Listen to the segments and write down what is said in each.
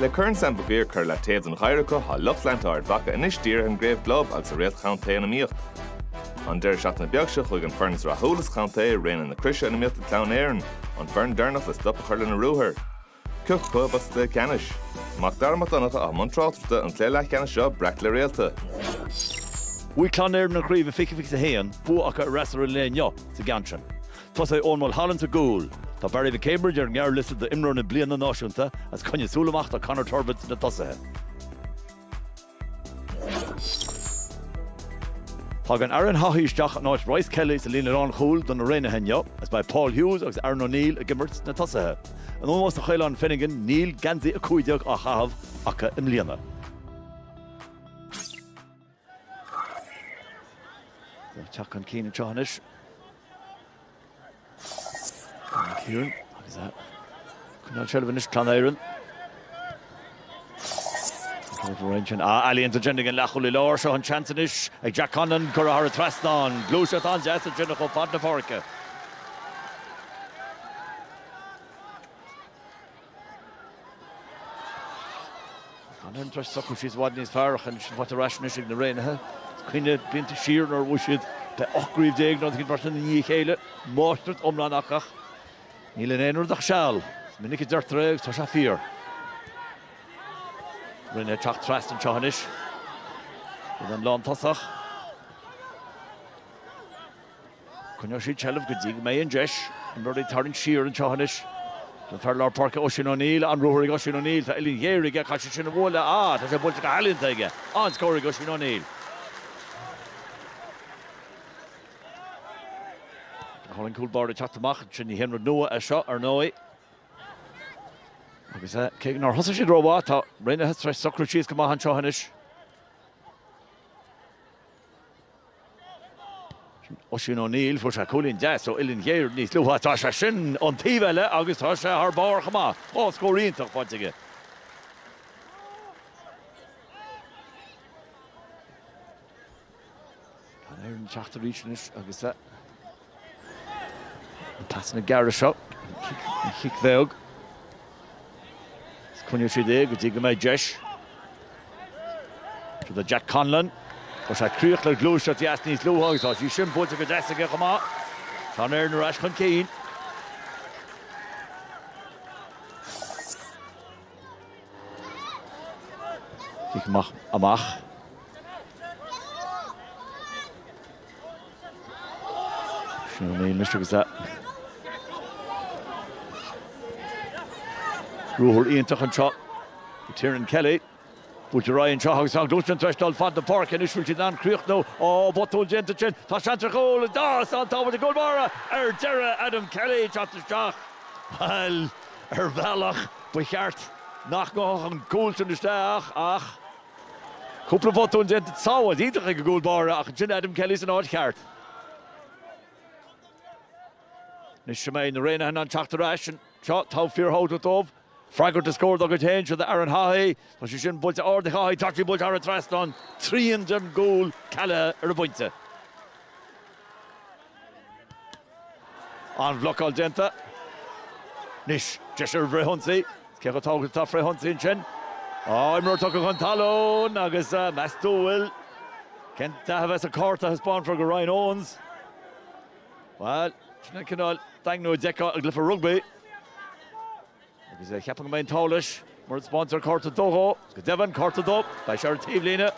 Le Corn Sam Mhig Uidhir curtha i leataobh don gheimhreadh acu tá lucht leanta Ard Mhaca anois dírithe ar an gcraobh gclub agus a réalta contae in iomaíocht. An deireadh seachtaine beag seo chuaigh an fhoireann is rathúla sa chontae Raonaithe na Croise in iomaíocht le Clann Éireann, an fhoireann deireanach le stop a chur lena ruathar. Cé acu club a bheas sa gcluiche ceannais. Mac Dara Mac Donncha i mbun tráchtaireachta an cluiche leathcheannais seo breac le réalta. Bhuaigh Clann Éireann an chraobh i 2021, bua acu ar fhreasúra an lae inniu sa gceann sin. Tosóidh Eoin Mulholland sa gcúl. Tá Barry McCambridge ar an ngearrliosta do 'Imreoir na Bliana' náisiúnta agus coinnigh súil amach do Conor Turbitt sna tosaithe. Tagann Aaron Haughey isteach in áit Bryce Kelly sa líne lánchúil do na Raonaithe inniu agus beidh Paul Hughes agus Aaron O'Neill ag imirt sna tosaithe. In ómós do Chaolán Finnegan, níl geansaí 15 á chaitheamh acu i mbliana. Ag teacht chun cinn anseo anois. Dara Ciarán agus ag coinneáil seilbh anois, Clann Éireann. Ealaíonta déanta ag an leathchúlaí láir, seo an seans anois ag Jack Conlon curtha thar an trasnán. Gluaiseacht an-deas a déanadh chomh fad na páirce. Clann Éireann tar éis socrú síos i bhfad níos fearr ach anois faighte ar ais anois ag na Raonaithe. Cuimhnigh na blianta siar nuair a bhuaigh siad le 18 gcraobh nó cinn beirte i ndiaidh a chéile, máistreacht iomlán acu ach níl in aon rud ach seal. Is minic a deirtear é agus tá sé fíor. Rian ag teacht trasna anseo anois. Bhí an lántosach. Coinneoidh siad seilbh go dtí go mbeidh an deis ag Murray tarraingt siar anseo anois. An fear lár páirce Oisín O'Neill, an-ruathar ag Oisín O'Neill, tá uillinn ghéar aige, caithfidh sé sin a bhualadh, ah tá sé buailte go healaíonta aige, an-scór ag Oisín O'Neill. Tá an cúl báire ag teacht amach, sin ní haon rud nua é seo ar ndóigh. Agus eh, cé nár thosaigh siad rómhaith, tá Raonaithe tar éis socrú síos go maith anseo anois. Oisín O'Neill, Fuair sé cúilín deas ó uillinn ghéar níos luaithe. Tá sé sin ón taobh eile agus tá sé thar barr chomh maith. Dhá scór iontach faighte aige. Clann Éireann ag teacht arís anois agus Na pasanna gearra seo, an chic bheag, is coinneoidh siad é go dtí go mbeidh deis. Seo é Jack Conlon. Chuir sé críoch le gluaiseacht dheas níos luaithe agus tá sí sin buailte go deas aige chomh maith. Clann Éireann ar ais chun cinn. Amach. Ruathar iontach anseo do Tiernan Kelly. Buailte ar aghaidh anseo agus tá an ghluaiseacht tar éis taisteal fad na páirce anois, bhfuil siad in ann críochnú. Ó, botún déanta ansin. Tá seans ar chúl ann agus an tsábháil ag an gcúl báire ar deireadh. Adam Kelly ag teacht isteach. Bhuel, ar bhealach ba cheart nach ngabhfadh an cúl sin isteach ach. Cúpla botún déanta, sábháil iontach ag an gcúl báire ach ansin Adam Kelly san áit cheart. Anois seo, an mbeidh na Raonaithe in ann teacht ar ais anseo. Tá sé fíorthábhachtach dóibh freagairt do scór dá gcuid féin, seo do Aaron Haughey. Tá sé sin buailte ard ag Haughey. Tá sé buailte thar an trasnán. Trian den gcúl cealaithe ar an bpointe. An-bhlocáil déanta anois. Deis ar an bhfrithionsaí. Cé chomh tábhachtach atá frithionsaí ansin? Á, imreoir tugtha chun talún agus meastú a bhfuil cén dath a bheas an cárta a thaispeánfar do Ryan Owens. Bhuel, sin an cineál daingniú a d'fheicfeá i gcluiche rugbaí. Agus cheapfainn go mbeidh an t-ádh leis mura dtaispeántar cárta dubh dhó. Go deimhin, cárta dubh, beidh sé ar an taobhlíne.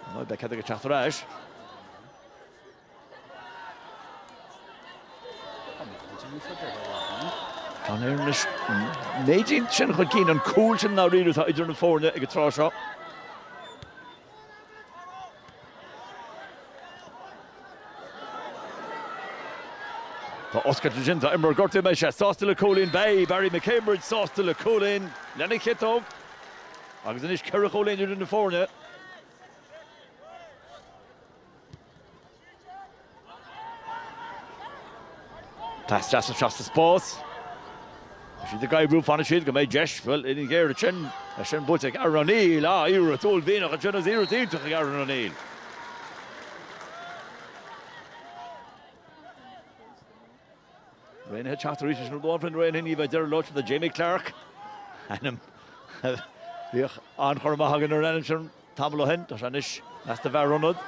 Ar ndóigh, beidh cead aige teacht ar ais. Clann Éireann leis an méid sin chun cinn, an cúl sin i ndáiríre atá idir na foirne ag an tráth seo. Tá oscailt déanta, imreoir gortaithe, an mbeidh sé sásta le cúilín beidh Barry McCambridge sásta le cúilín lena chiotóg agus anois ceithre chúilín idir na foirne. Taisteal sa seasta spás. Tá siad ag oibriú, fanann siad, go mbeidh deis, bhuel, uillinn ghéar ansin, é sin buailte ag Aaron O'Neill, ah, iarracht uaillmhianach ansin agus iarracht iontach ag Aaron O'Neill. Raonaithe ag teacht arís, sin rud amháin, na Raonaithe, ní bheidh deireadh leo sin do Jamie Clarke, ainm a bhíodh an-chur amach againn ar an ainm sin tamall ó shin, tá sé anois i measc na bhfear ionad.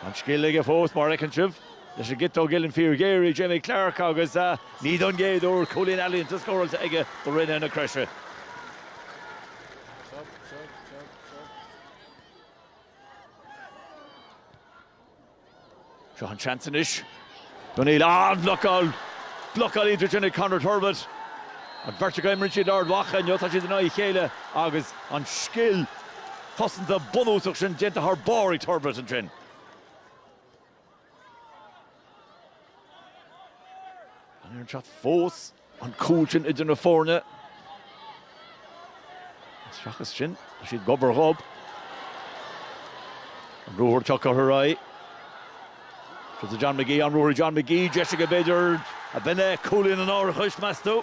An scil aige fós, mar fheiceann sibh, leis an gciotóg, uillinn fíorghéar ag Jamie Clarke, agus ní don gcéad uair cúilín ealaíonta scóráilte aige do Raonaithe na Croise. Seo an seans anois d'O'Neill. An-bhlocáil! Blocáil iontach ansin ag Conor Turbitt. An bheirt acu a imríonn siad d'Ard Mhacha inniu, tá siad in aghaidh a chéile agus an scil chosanta bunúsach sin déanta thar barr ag Turbitt ansin. An ar an shot fós. An cúl sin idir na foirne. Seachas sin, tá siad gob ar ghob. An ruathar tugtha ar aghaidh ag John McGee, an ruathar John McGee, deis aige b'fhéidir a bheith le cúilín an árachais, meas tú?